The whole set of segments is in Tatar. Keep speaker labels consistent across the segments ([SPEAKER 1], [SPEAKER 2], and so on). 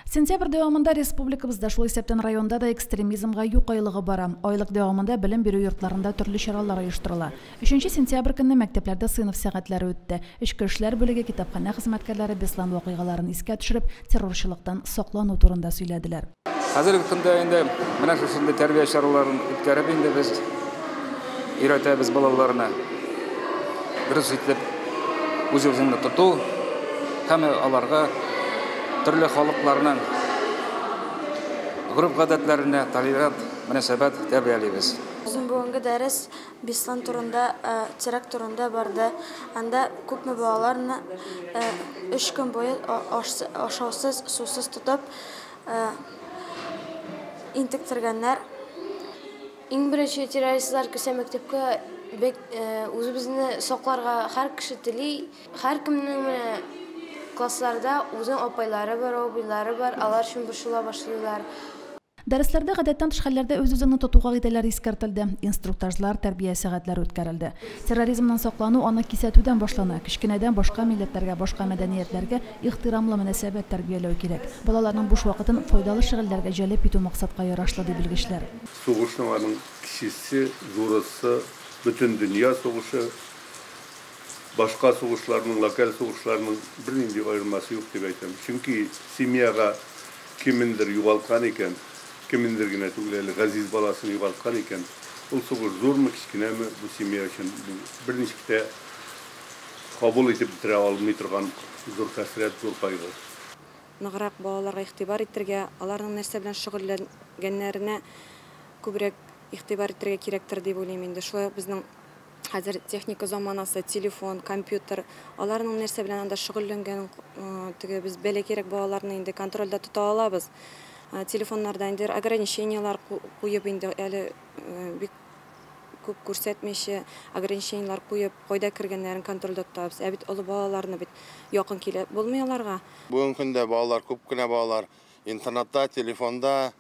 [SPEAKER 1] Сентябрь дәвамында республикабызда, шул исәптән районда да экстремизмга юк айлыгы бара. Айлык дәвамында белем бирү йортларында төрле чаралар оештырыла. Өченче сентябрь көнне мәктәпләрдә сыйныф сәгатьләре үтте. Эчке эшләр бүлеге, китапханә хезмәткәрләре Беслан вакыйгаларын искә төшереп, террорчылыктан саклану турында сөйләделәр. Хәзерге көндә
[SPEAKER 2] инде менә шушындый тәрбия чараларын үткәреп инде без. өйрәтәбез балаларны. Дөрес итеп үз-үзеңне тоту һәм аларга төрле халыкларның гореф-гадәтләренә толерант мөнәсәбәт тәрбиялибез. Безнең бүгенге
[SPEAKER 3] дәрес Беслан турында, теракт турында барды. Анда күпме балаларны өч көн буе ашаусыз, сусыз тотып интектергәннәр.
[SPEAKER 4] Иң беренче террористлар керсә мәктәпкә, бек, э, үзебезне сакларга һәр кеше тели. Һәркемнең менә классларда үзенең апайлары бар, абыйлары бар, алар өчен борчыла башлыйлар. Дәресләрдә
[SPEAKER 1] гадәттән тыш хәлләрдә үз-үзеңне тотуга кагыйдәләр искәртелде, инструктажлар, тәрбия сәгатьләре үткәрелде. Терроризмнан саклану, аны кисәтүдән башлана, кечкенәдән башка милләтләргә, башка мәдәниятләргә, Ихтирамлы мөнәсәбәт тәрбияләү кирәк. Балаларның буш вакытын файдалы шөгыльләргә җәлеп итү максатка ярашлы, ди белгечләр. Сугышның аның
[SPEAKER 5] кечесе, зурысы, Бөтендөнья сугышы, башка сугышларның, локаль сугышларның бернинди аермасы юк дип әйтәм. Чөнки семьяга кемендер югалткан икән, кемендер генә түгел әле, газиз баласын югалткан икән, ул сугыш зурмы, кечкенәме, бу семья өчен бу берничек тә кабул итеп бетерә алмый торган зур хәсрәт, зур кайгы. Ныграк
[SPEAKER 6] балаларга игътибар итәргә, аларның нәрсә белән шөгыльләнгәннәренә күбрәк игътибар итәргә кирәктер дип уйлыйм инде. Шулай ук безнең хәзер техника заманасы, телефон, компьютер, аларның нәрсә белән анда шөгыльләнгәнен, теге без бәләкәйрәк балаларны инде контрольдә тота алабыз. Телефоннарда инде ограничениеләр куеп инде әле бик күп күрсәтмичә, ограничениеләр куеп, кайда кергәннәрен контрольдә тотабыз. Ә бит олы балаларны бит якын килеп булмый аларга. Бүгенге көндә балалар,
[SPEAKER 7] күп кенә балалар интернетта, телефонда,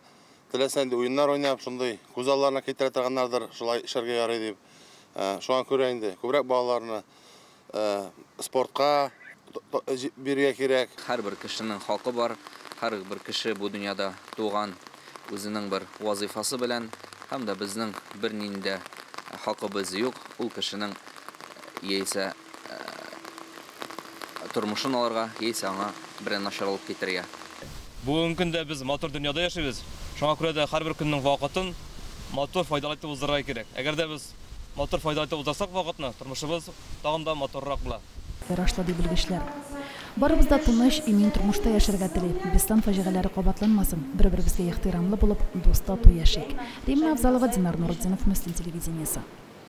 [SPEAKER 7] теләсә нинди уеннар уйнап, шундый күз алларына китерә торганнардыр, шулай эшләргә ярый дип. Шуңа күрә инде күбрәк балаларны Спортка бирергә кирәк. Һәрбер кешенең хакы
[SPEAKER 8] бар. Һәрбер кеше бу дөньяда туган үзенең бер вазыйфасы белән. Һәм дә безнең бернинди дә хакыбыз юк ул кешенең яисә тормышын алырга, яисә аңа берәр начарлык китерергә. Бүгенге
[SPEAKER 9] көндә без матур дөньяда яшибез. Шуңа күрә дә һәрбер көннең вакытын матур, файдалы итеп уздырырга кирәк. Әгәр дә без Матур файдалы итеп уздырсак вакытны, тормышыбыз тагын да матуррак була. Ярашлы, ди белгечләр.
[SPEAKER 1] Барыбыз да тыныч, имин тормышта яшәргә тели. Беслан фаҗигаләре кабатланмасын, бер-беребезгә ихтирамлы булып, дус-тату яшик. Римма Авзалова, Динар Нуретдинов, Мөслим телевидениесе.